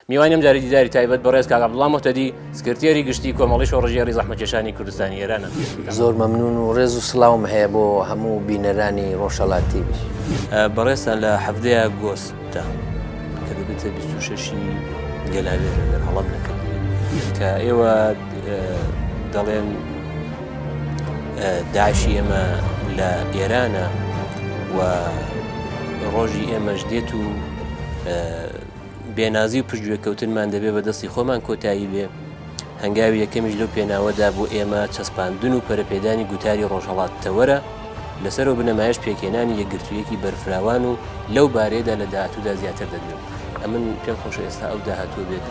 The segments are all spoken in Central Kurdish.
میوانی ئەمجاری دیداری تایبەت بەڕێز کاک عەبدوڵڵا موهتەدی، سکرتێری گشتیی کۆمەڵەی شۆڕشگێڕی زەحمەتکێشانی کوردستانی ئێرانە. زۆر مەمنوون و ڕێز و سڵاوم هەیە بۆ هەموو بینەرانی ڕۆژهەڵات تیڤی. بەڕێزتان لە حەڤدە ی ئاگۆستدا کە دەبێتە بیست و شەش ی گەلاوێژ ئەگەر هەڵەم نەکردبێت کە ئێوە دەڵێن داعشی ئێمە لە ئێرانە و ڕۆژی ئێمەش دێت و بێنازی و پشتگوێکەوتنمان دەبێ بە دەستی خۆمان کۆتایی بێ هەنگاوی یەکەمیش لەو پێناوەدا بۆ ئێمە چەسپاندن و پەرپێدانی گوتاری ڕۆژهڵات تەوەرە لەسەر و بنەمایش پێکێنانی یەکگرتوویەکی بەرفراوان و لەو بارەیەدا لە داهاتوودا زیاتر دەدوێن ئەمن پێم خۆشە ئێستا ئەو داهاتوو بێت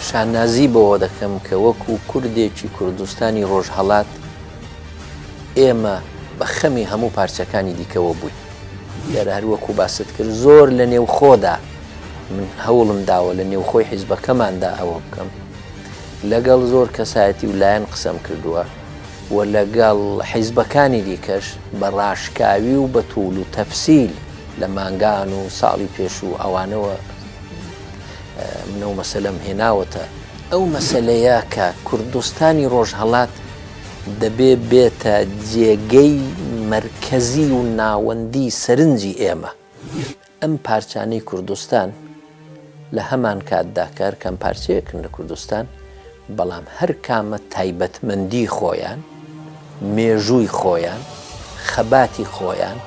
شانازی بەوە دەکەم کە وەکو کوردێکی کوردستانی ڕۆژهڵات ئێمە بە خەمی هەموو پارچەکانی دیکەوە بووین دیارە هەروەکو باست کرد زۆر لە نێوخۆدا من هەوڵم داوە لە نێوخۆی حیزبەکەماندا ئەوە بکەم لەگەڵ زۆر کەسایەتی و لایەن قسەم کردووە و لەگەڵ حیزبەکانی دیکەش بە ڕاشکاوی و بە توول و تەفسیل لە مانگان و ساڵی پێش و ئەوانەوە منە و مەسەلەم هێناوەتە ئەو مەسلەیە کە کوردستانی ڕۆژهڵات دەبێ بێتە جێگەی مرکزی و ناوەندی سەرنجی ئێمە ئەم پارچانەی کوردستان لە هەمان کاتدا کە هەر کام پارچەیەکن لە کوردستان، بەڵام هەر کامە تایبەتمەندی خۆیان، مێژووی خۆیان، خەباتی خۆیان،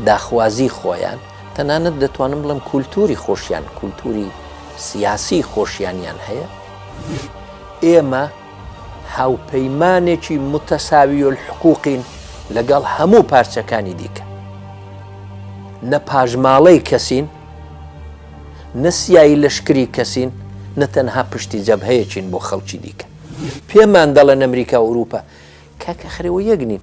داخوازی خۆیان، تەنانەت دەتوانم بڵێم کولتووری خۆشیان، کولتووری سیاسی خۆشیانیان هەیە. ئێمە. هاوپەیمانێکی متساوی الحقوقین لەگەڵ هەموو پارچەکانی دیکە. نە پاژماڵەی کەسین، نە سیایی لەشکری کەسین، نە تەنها پشتی جەبهەیەکین بۆ خەڵکی دیکە. پێمان دەڵێن ئەمریکا و ئورووپا کاکە خەرەوە یەک نین.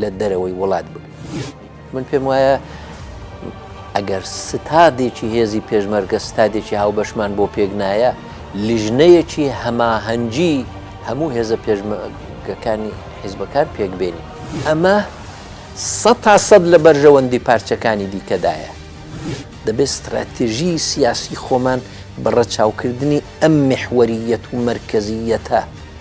لە دەرەوەی وڵات بن من پێم وایە ئەگەر ستادێکی هێزی پێشمەرگە ستادێکی هاوبەشمان بۆ پێک نایە لیژنەیەکی هەماهەنگی هەموو هێزە پێشمەگەکانی حیزبەکان پێکبێنی ئەمە سە تا سەد لە بەرژەوەندی پارچەکانی دیکەدایە دەبێت استراتێژی سیاسی خۆمان بەڕەچاوکردنی ئەم محوەریەت و مرکزیەتە